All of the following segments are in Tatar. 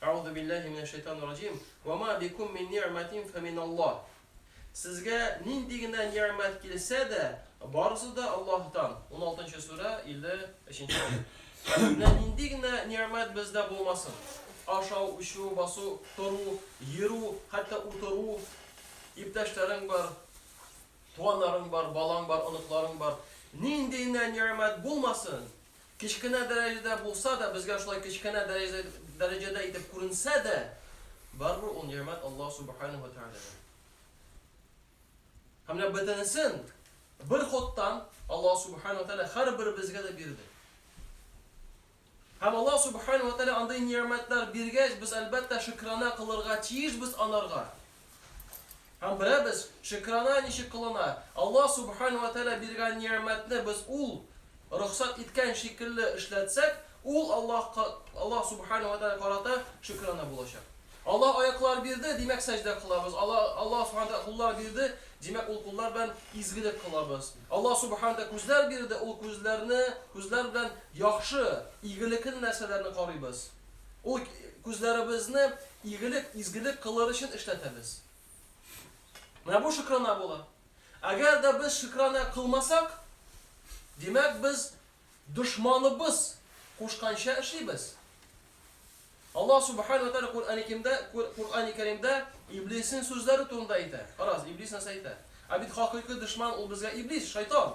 Әгъузу билләһи минәш шәйтанир раҗим, Вә ма бикум мин ни'мәтин фә мин Аллаһ. Сезгә нинди генә ни'мәт килсә дә, барысы да Аллаһтан. Уналтынчы сүрә, илле өченче аять. Менә нинди генә ни'мәт бездә булмасын, ашау, эчү, басу, тору, йөрү, хәтта утыру, иптәшләрең бар, туганнарың бар, балаң бар, оныкларың бар, нинди генә ни'мәт булмасын, Кечкенә дәрәҗәдә булса да, безгә шулай кечкенә дәрәҗәдә итеп күренсә дә, барыбер ул нигъмәт Аллаһ Субханаһу ва Тәгаләдән. Һәм менә бөтенесен бер ходтан Аллаһ Субханаһу ва Тәгалә һәрберебезгә дә бирде. Һәм Аллаһ Субханаһу ва Тәгалә андый нигъмәтләр биргәч, без, әлбәттә, шөкранә кылырга тиешбез анарга. Һәм беләбез, шөкранә ничек кылына. Аллаһ Субхана вә Тәгалә биргән ни'мәтне без Ул рөхсәт иткән шикелле эшләтсәк, ул Аллаһка, Аллаһ Субхана вә Тәгалә карата шөкранә булачак. Аллаһ аяклар бирде, димәк сәҗдә кылабыз. Аллаһ, Аллаһ Субхана Тәгалә куллар бирде, димәк ул куллар белән изгелек кылабыз. Аллаһ Субхана Тәгалә күзләр бирде, ул күзләрне, күзләр белән яхшы, игелекле нәрсәләрне карыйбыз. Ул күзләребезне игелек, изгелек кылыр өчен эшләтәбез. Менә бу шөкрана була. Әгәр дә без шөкрана кылмасак, димәк без дошманыбыз кушканча эшлибез. Аллаһ субхана ва тааля Куръан-и Кимдә, Куръан-и Кәримдә иблиснең сүзләре турында әйтә. Карагыз, иблис нәрсә әйтә? Ә бит хакыйкый дошман ул безгә иблис, шайтан.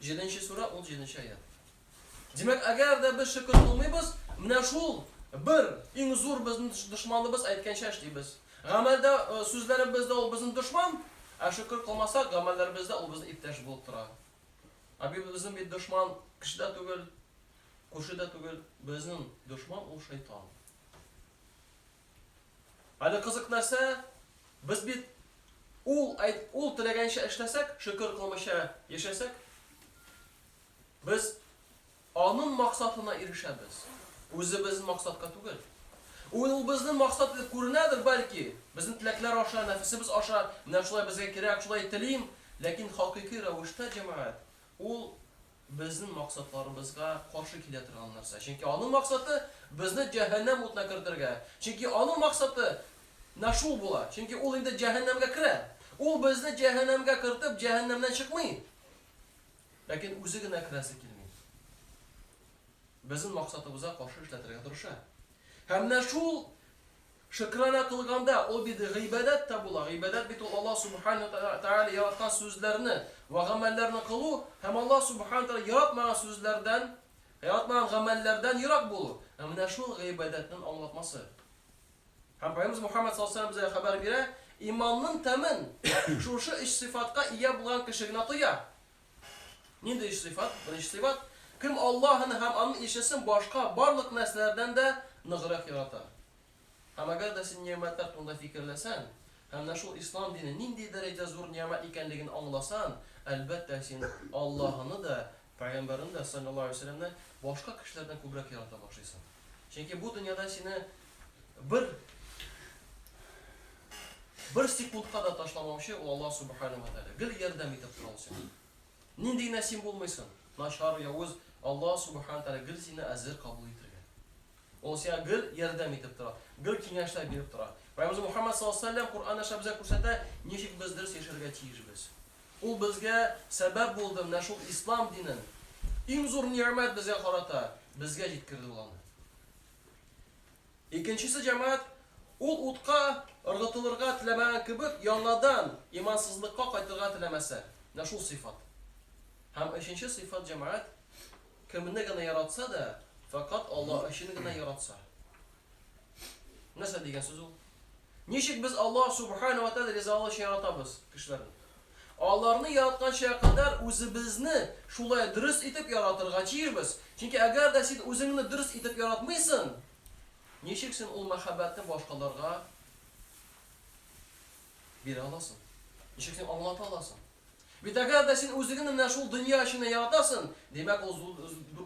Җиденче сүрә, ун җиденче аять. Димәк, әгәр дә без шөкер кылмыйбыз, менә шул бер иң зур безнең дошманыбыз әйткәнчә эшлибез. Гамәлдә, э, сүзләребездә ул безнең дошман, ә шөкер кылмасак, гамәлләребездә ул безнең иптәш булып тора. Ә бит безнең бит дошман кеше дә түгел, күрше дә түгел, безнең дошман ул шайтан. Әле кызык нәрсә, без бит ул әйт, ул теләгәнчә эшләсәк, шөкер кылмыйча яшәсәк, без аның максатына ирешәбез, үзебезнең максатка түгел. Ул ул безнең максат итеп күренәдер, бәлки, безнең теләкләр аша, нәфесебез аша, менә шулай безгә кирәк, шулай телим, ләкин хакыйкый рәвештә, җәмәгать, ул безнең максатларыбызга каршы килә торган нәрсә. Чөнки аның максаты, безне җәһәннәм утына кертергә. Чөнки аның максаты нә шул була. Чөнки ул инде җәһәннәмгә керә. Ул безне җәһәннәмгә кертеп, җәһәннәмнән чыкмый. Ләкин үзе генә керәсе килми. Безнең максатыбызга каршы эшләтергә тырыша. Һәм нә шул Шөкранә кылганда, ул бит гыйбадәт тә була. Гыйбадәт бит ул Аллаһ Сүбхәнәһү ва Тәгалә яраткан сүзләрне вә гамәлләрне кылу һәм Аллаһ Сүбхәнәһү ва Тәгалә яратмаган сүзләрдән, яратмаган гамәлләрдән ерак булу. Ә менә шул гыйбадәтнен аңлатмасы. Һәм Пәйгамбәребез Мухәммәд саллаллаһу галәйһи вә сәлләм безгә хәбәр бирә, иманнын тәмен шушы өч сыйфатка ия булган кеше генә тоя. Нинди өч сыйфат? Беренче сыйфат, кем Аллаһыны һәм Аның илчесен башка барлык нәрсәләрдән дә ныграк ярата. Һәм әгәр дә син нигъмәтләр турында фикерләсәң һәм менә шул Ислам дине нинди дәрәҗәдә зур нигъмәт икәнлеген аңласаң, әлбәттә, син Аллаһыны да, Пәйгамбәрен дә, салләллаһу галәйһи ва сәлләмне, башка кешеләрдән күбрәк ярата башлыйсың. Чөнки бу дөньяда сине Бер бер секундка да ташламаучы ул Аллаһ Субхану ва Тәгалә. Гел ярдәм итеп тора ул сиңа. Нинди генә син булмыйсың, начар, явыз, Аллаһ Субхану Тәгалә гел сине әзер кабул итергә. Ул сиңа гел ярдәм итеп тора, гел киңәшләр биреп тора. Пәйгамбер Мухаммад саллаллаһу алейһи ва сәлләм Коръән аша безгә күрсәтә, ничек без дөрес яшәргә тиешбез. Ул безгә сәбәп булды менә шул ислам динен. Иң зур нигъмәт безгә карата, безгә җиткерде ул аны. Икенчесе җәмәгать, ул утка ыргытылырга теләмәгән кебек, яңадан имансызлыкка кайтырга теләмәсә, менә шул сыйфат. Һәм өченче сыйфат җәмәгать, кемне генә яратса да, фәкать Аллаһ өчен генә яратса. Нәрсә дигән сүз ул? Ничек без Аллаһ Субхана ва Тәгалә ризалыгы өчен яратабыз кешеләрне? Аларны яратканча кадәр үзебезне шулай дөрес итеп яратырга тиешбез. Чөнки әгәр дә син үзеңне дөрес итеп яратмыйсың, ничек син ул мәхәббәтне башкаларга бирә аласың? Ничек син аңлата аласың? Бит әгәр дә син үзегне менә шул дөнья эчендә яратасын, димәк ул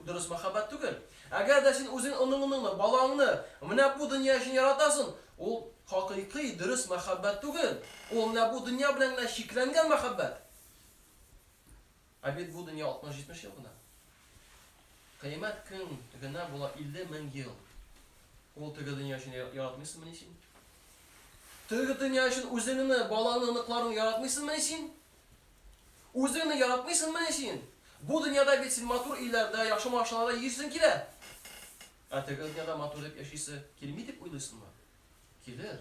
дөрес мәхәббәт түгел. Әгәр дә син үзең оныңыныңны, балаңны менә бу дөнья өчен яратасын, ул хакыйкый, дөрес мәхәббәт түгел. Ул менә бу дөнья белән генә чикләнгән мәхәббәт. Ә бит бу дөнья 60-70 ел гына. Кыямәт көн генә була 50 мең ел. Ул теге дөнья өчен яратмыйсыңмыни син? Теге дөнья өчен үзеңне, балаңны, оныкларыңны яратмыйсыңмыни син? Үзеңне яратмыйсыңмыни син? Бу дөньяда бит син матур өйләрдә, яхшы машиналарда йөрисең килә. Ә теге дөньяда матур дип яшисе килми дип уйлыйсыңмы? Килер.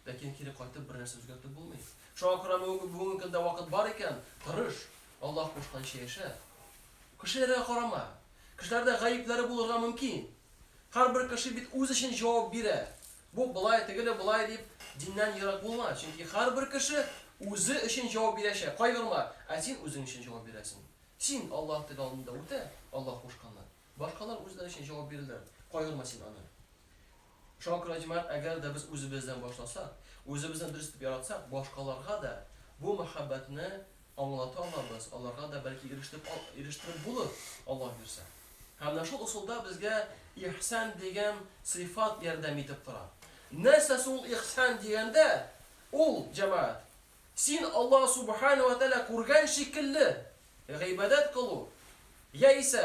Ләкин кире кайтып бернәрсә үзгәртеп булмый. Шуңа күрә бүгенге көндә вакыт бар икән, тырыш, Аллаһ кушканча яшә. Кешеләргә карама. Кешеләрдә гаепләре булырга мөмкин. Һәрбер кеше бит үз өчен җавап бирә. Бу болай, тегеле болай дип, диннән ерак булма, чөнки һәрбер кеше үзе өчен җавап бирәчәк. Кайгырма, ә син үзең өчен җавап бирәсең. Син Аллаһ теге алдында үтә, Аллаһ кушканны. Башкалар үзләре өчен җавап бирерләр. Кайгырма син аны. Шуңа күрә, җәмәгать, әгәр дә без үзебездән башласак, үзебезне дөрес итеп яратсак, башкаларга да бу мәхәббәтне аңлата алабыз, аларга да, бәлки, ирештереп ал, ирештереп булыр, Аллаһ бирсә. Һәм менә шул ысулда безгә ихсан дигән сыйфат ярдәм итеп тора. Нәрсә соң ул ихсан дигәндә? Ул, җәмәгать, син Аллаһ Субхана ва Тәгалә күргән шикелле гыйбадәт кылу, яисә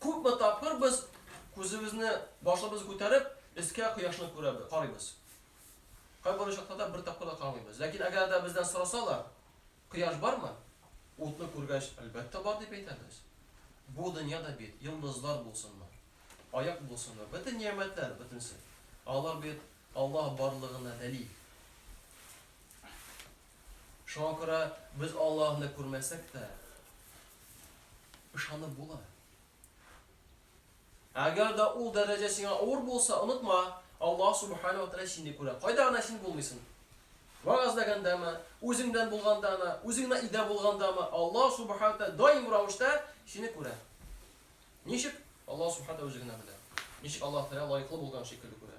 Күпме тапкыр без күзебезне, башыбызны күтәреп, өскә кояшны күрәбез, карыйбыз. Кайбер очракларда бер тапкыр да карамыйбыз. Ләкин әгәр дә бездән сорасалар, кояш бармы? Утны күргәч, әлбәттә бар дип әйтәбез. Бу дөнья да бит, йолдызлар булсынмы, аяк булсынмы, бөтен нигъмәтләр, бөтенесе, алар бит Аллаһ барлыгына дәлил. Шуңа күрә без Аллаһны күрмәсәк тә, ышанып була. Әгәр дә ул дәрәҗә сиңа авыр булса, онытма, Аллаһ Субхана ва Тәгалә сине күрә. Кайда гына син булмыйсың? Вәгазьләгәндәме, үзеңдән булгандамы, үзеңне өйдә булгандамы, Аллаһ Субхана ва Тәгалә даим рәвештә сине күрә. Ничек? Аллаһ Субхана ва Тәгалә үзе генә белә. Ничек Аллаһ Тәгалә лаеклы булган шикелле күрә.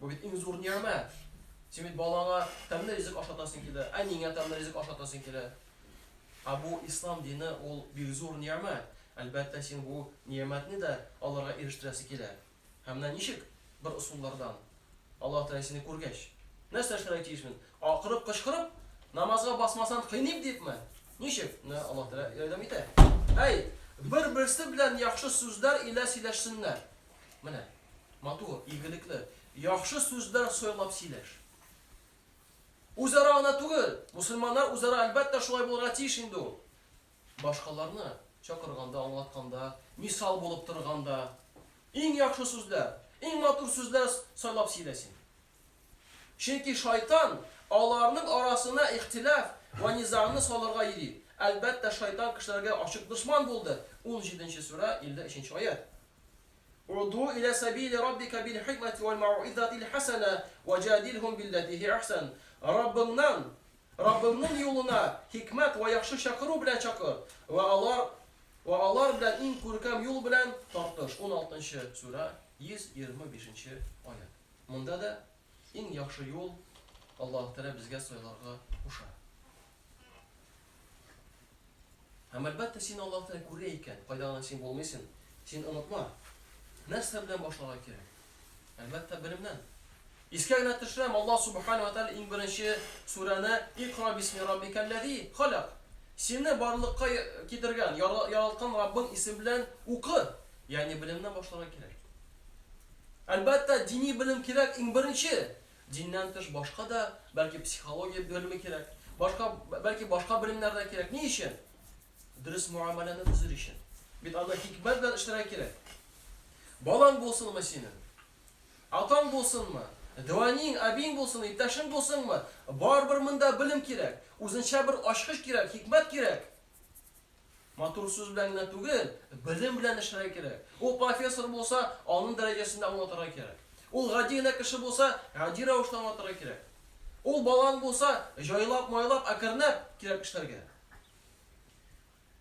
Бу бит иң зур нигъмәт. Син бит балаңа тәмле ризык ашатасың килә, әниеңә тәмле ризык ашатасың килә. Ә бу ислам дине ул бик зур нигъмәт. Әлбәттә, син бу нигъмәтне дә аларга ирештерәсе килә. Һәм менә ничек? Бер ысуллардан. Аллаһ Тәгалә сине күргәч, нәрсә эшләргә тиешмен? Акырып-кычкырып, намазга басмасаң кыйныйм дипме? Ничек? Менә Аллаһ Тәгалә ярдәм итә. Әйт, бер-берсе белән яхшы сүзләр илә сөйләшсеннәр. Менә, матур, игелекле, яхшы сүзләр сайлап сөйләш. Үзара гына түгел, мусульманнар үзара әлбәттә шулай булырга тиеш инде ул. Башкаларны чакырганда, аңлатканда, мисал булып торганда, иң яхшы сүзләр, иң матур сүзләр сайлап сөйлә син. Чөнки шайтан аларның арасына ихтилаф вә низагны салырга йөри. Әлбәттә, шайтан кешеләргә ачык дошман булды. 17 нче сүрә, 53 нче аять. Уду илә сәбили раббика бил-хикмәти вәл-мәүизатил хәсәнә вә җадилһум билләти һия әхсән. Раббыңнан, Раббыңның юлына, хикмәт вә яхшы чакыру белән чакыр, вә алар, вә алар белән иң күркәм юл белән тартыш. Уналты нчы сүрә, 125 нче аять. Монда да иң яхшы юл Аллаһы Тәгалә безгә сайларга куша. Һәм әлбәттә син Аллаһ Тәгалә күрә икән, кайда гына син булмыйсың, син онытма. Нәрсә белән башларга кирәк? Әлбәттә белемнән. Искә генә төшерәм, Аллаһ Субхана ва Тәгалә иң беренче сүрәне Икра бисми раббикәлләзи халак. Сине барлыкка китергән, яралткан Раббың исеме белән укы. Ягъни белемнән башларга кирәк. Әлбәттә дини белем кирәк иң беренче. Диннән тыш башка да, бәлки, психология белеме кирәк, башка, бәлки, башка белемнәр дә кирәк. Ни өчен? Дөрес муамәләне төзер өчен. Бит аны хикмәт белән эшләргә кирәк. Балаң булсынмы синең? Атаң булсынмы? Дәвәниң, әбиең булсын, иптәшең булсынмы? Барыбер монда белем кирәк, үзенчә бер ачкыч кирәк, хикмәт кирәк. Матур сүз белән генә түгел, белем белән эшләргә кирәк. Ул профессор булса, аның дәрәҗәсендә аңлатырга кирәк. Ул гади генә кеше булса, гади рәвештә аңлатырга кирәк. Ул балан булса, җайлап-майлап, әкренләп кирәк эшләргә.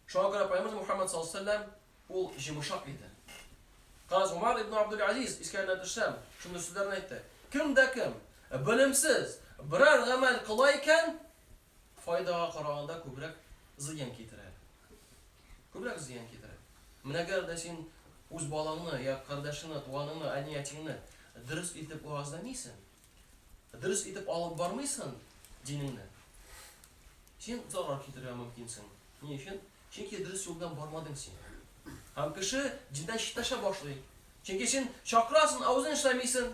Шуңа күрә Пәйгамбәр Мухаммад саллаллаһу алейһи ва сәлләм ул җимышак иде. Каз Умар ибн Абдул Азиз искәренә төшсәм, шундый сүзләрне әйтте. Кем дә кем белемсез берәр гамәл кыла икән, файдага караганда күбрәк зыян китерә. Күбрәк зыян китерә. Менә әгәр дә син үз балаңны, я кардәшеңне, туганыңны, әни-әтиңне дөрес итеп уазләмисең, дөрес итеп алып бармыйсың динеңне, син зарар китерергә мөмкинсең. Ни өчен? Чөнки дөрес юл белән бармадың син. Һәм кеше диндән читләшә башлый. Чөнки син чакырасың, ә үзең эшләмисең.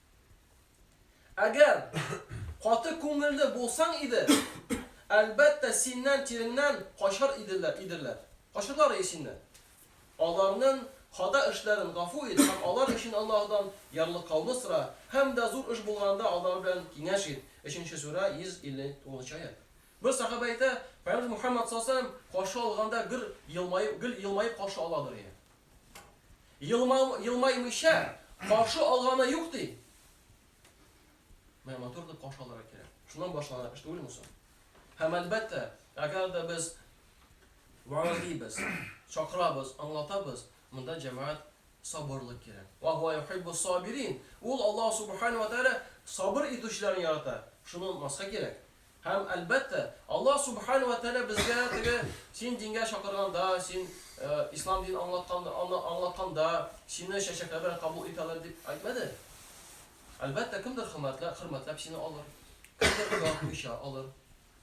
Әгәр каты күңелле булсаң иде, әлбәттә, синнән тиреңнән качар иделәр, идерләр. Качырлар и синне. Аларнын хата эшләрен гафу ит һәм алар өчен Аллаһыдан ярлыкауны сора, һәм дә зур эш булганда алар белән киңәш ит. Өченче сүрә, 159 нчы аять. Бер сахабә әйтә, Пәйгамбәребез Мухәммәд саллаллаһу галәйһи ва сәлләм каршы алганда гөр елмаеп, гел елмаеп каршы аладыр иде. Елмаймыйча каршы алганы юк ди. Менә матур дип каршы алырга кирәк. Шуннан башлана эш түгелме соң? Һәм әлбәттә, әгәр дә без ваазибез, чакырабыз, аңлатабыз, монда җәмәгать сабырлык кирәк. Ва хуа юхиббу сабирин. Ул Аллаһ субхана ва тааля сабыр итүчеләрне ярата. Шуны онытмаска кирәк. Һәм, әлбәттә, Аллаһ Субхана вә Тәгалә безгә теге син дингә чакырганда, син Ислам динен аңлатканда, аңлатканда, сине чәчәкләр белән кабул итәләр дип әйтмәде. Әлбәттә, кемдер хөрмәтләп, хөрмәтләп сине алыр, кемдер яратмыйча алыр.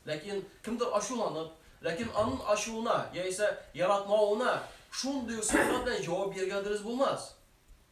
Ләкин кемдер ачуланып, ләкин аның ачуына яисә яратмавына шундый ук сыйфат белән җавап бирергә дөрес булмас.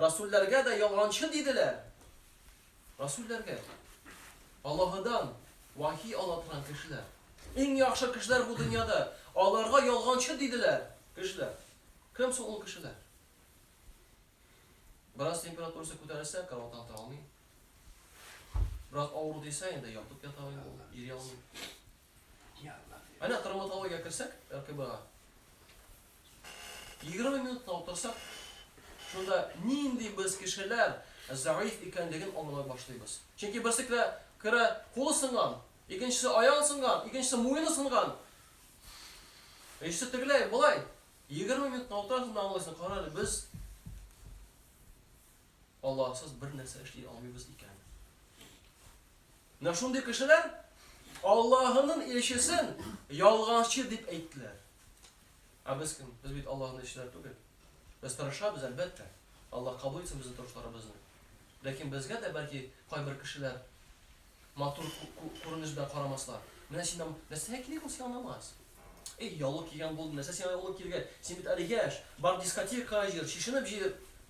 Расүлләргә дә ялганчы диделәр. Расүлләргә. Аллаһыдан вахи ала торган кешеләр. Иң яхшы кешеләр бу дөньяда. Аларга ялганчы диделәр кешеләр. Кем соң ул кешеләр? Бераз температурасы күтәрелсә, караваттан тора алмый. Бераз авыру дисә, инде ятып ята алмый, йөри алмый. Әнә травматологиягә керсәк, РКБга, егерме минут та утырсак, шунда нинди без кешеләр зәгыйфь икәнлеген аңлый башлыйбыз. Чөнки берсе керә, керә, кулы сынган, икенчесе аягы сынган, икенчесе муены сынган, өчесе тегеләй, болай. Егерме минут та утырасың да аңлыйсың, кара әле, без. Аллаһсыз бер нәрсә эшли алмыйбыз икән. Менә шундый кешеләр Аллаһының илчесен ялганчы дип әйттеләр. Ә без кем? Без бит Аллаһның илчеләре түгел. Без тырышабыз, әлбәттә. Аллаһ кабул итсен безнең тырышларыбызны. Ләкин безгә дә бәлки кайбер кешеләр матур күренеш белән карамаслар. Менә син нәрсәгә кирәк ул сиңа намаз? Эй, яулык кигән булды, нәрсә сиңа яулык кирәк? Син бит әле яшь, бар дискотека җыр, чишенеп җыр.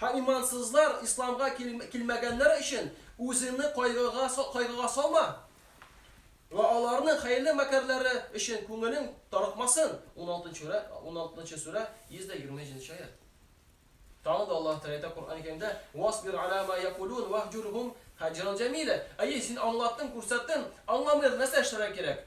Һәм имансызлар исламга килмәгәннәр өчен үзеңне кайгыга салма. Вә аларның хәерле мәкерләре өчен күңелең тарыкмасын. Уналтынчы сүрә, 120 нче аять. Тагын да Аллаһ Тәгалә әйтә Коръән-ы Кәримдә, Васбир ала ма якулун ваһҗурһум хаҗран җәмилә. Әйе, син аңлаттың, күрсәттең, аңламыйлар, нәрсә эшләргә кирәк?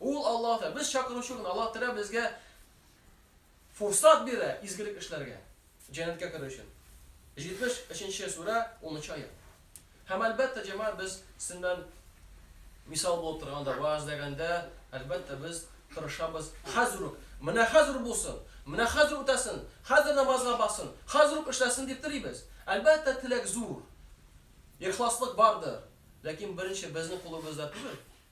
Ул Аллаһтыр. Без чакыручы гына. Аллаһ Тәгалә безгә форсат бирә изгелек эшләргә, җәннәткә керү өчен. 73 нче сүрә, 10 нчы аять. Һәм, әлбәттә, җәмәгать, без сезнең белән мисал булып торганда, вәгазьләгәндә, әлбәттә, без тырышабыз, хәзер үк, менә хәзер үк булсын, менә хәзер үк үтәсен, хәзер намазга бассын, хәзер үк эшләсен дип телибез. Әлбәттә, теләк зур, ихласлык бардыр, ләкин беренче безнең кулыбызда түгел.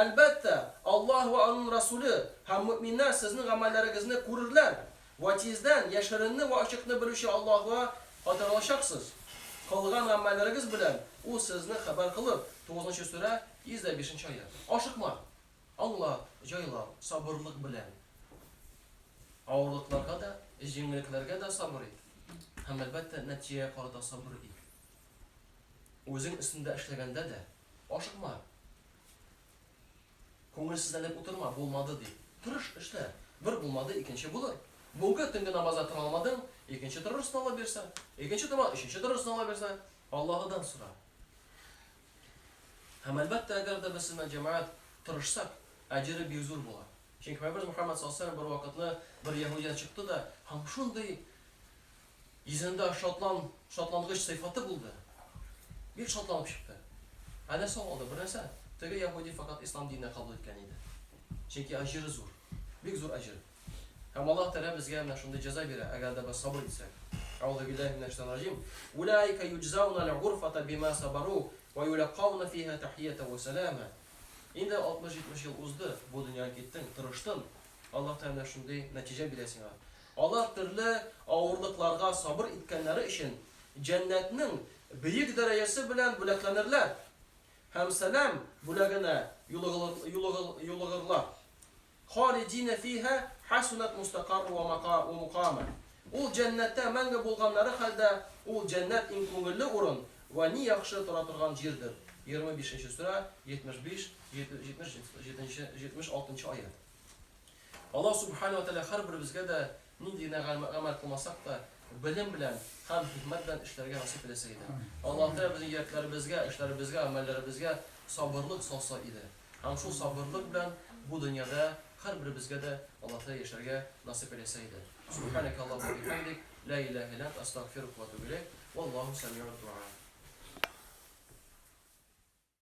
Әлбәттә, Аллаһ вә Аның Рәсүле һәм мөэминнәр сезнең гамәлләрегезне күрерләр, вә тиздән яшеренне вә ачыкны белүче Аллаһка кайтарылачаксыз. Кылган гамәлләрегез белән Ул сезне хәбәр кылыр. Тугызынчы сүрә, 105 нче аять. Ашыкма! Аңла, җайлау, сабырлык белән авырлыкларга да, җиңеллекләргә дә сабыр ит, һәм, әлбәттә, нәтиҗәгә карата сабыр ит. Үзең өстендә эшләгәндә дә, Ашыкма. Күңелсезләнеп утырма, булмады дип. Тырыш, эшлә. Бер булмады, икенче булыр. Бүгенге төнге намазда тора алмадың, икенче тырышны Алла бирсә. Икенче тора, өченче тырышны Алла бирсә. Аллаһыдан сора. Һәм әлбәттә, әгәр дә без сезнең җәмәгать тырышсак, әҗере бик зур була. Чөнки Пәйгамбәрбез Мөхәммәд саллаллаһу галәйһи ва сәлләм бер вакытны бер яһүдидан чыкты да һәм шундый Йөзендә шатлан, шатлангыч сыйфаты булды. Бик шатланып чыкты. Ә нәрсә ул алда? Бернәрсә. Теге яһүди фәкать ислам диненә кабул иткән иде. Чөнки әҗере зур. Бик зур әҗер. Һәм Аллаһ Тәгалә безгә менә шундый җәза бирә, әгәр дә без сабыр итсәк. Әгъузубиллаһи минәш-шәйтанир-раҗим. Улаика юҗзаунал гурфата бима сабару ва юләккауна фиһа тәхиятән ва сәләма. Инде 60-70 ел узды, бу дөньядан киттең, тырыштын. Аллаһ Тәгалә менә шундый нәтиҗә бирә сиңа. Алар төрле авырлыкларга сабыр иткәннәре өчен Җәннәтнең бөек дәрәҗәсе белән бүләкләнерләр һәм сәлам бүләгенә юлыгырлар. Халидина фиһа хәсунәт мустәкарру вә мөкама. Ул Җәннәттә мәңге булганнары хәлдә, ул, Җәннәт, иң күңелле урын вә ни яхшы тора торган җирдер. Егерме бишенче сүрә, җитмеш биш, җитмеш җитмеш алтынчы аять. Аллаһ Сүбхәнәһү вә Тәгалә һәрберебезгә дә нинди генә гамәл кылмасак та, белем белән һәм хикмәт белән эшләргә насыйп итәсе иде. Аллаһ Тәгалә безнең йөрәкләребезгә, эшләребезгә, гамәлләребезгә сабырлык салса иде. Һәм шул сабырлык белән бу дөньяда һәрберебезгә дә Аллаһ Тәгалә яшәргә насыйп итәсе иде. Сүбхәнәкә Аллаһуммә ва бихәмдик, лә илаһә илля ант, әстәгъфирүкә ва әтүбү иләйк, валлаһу сәмиун дуа.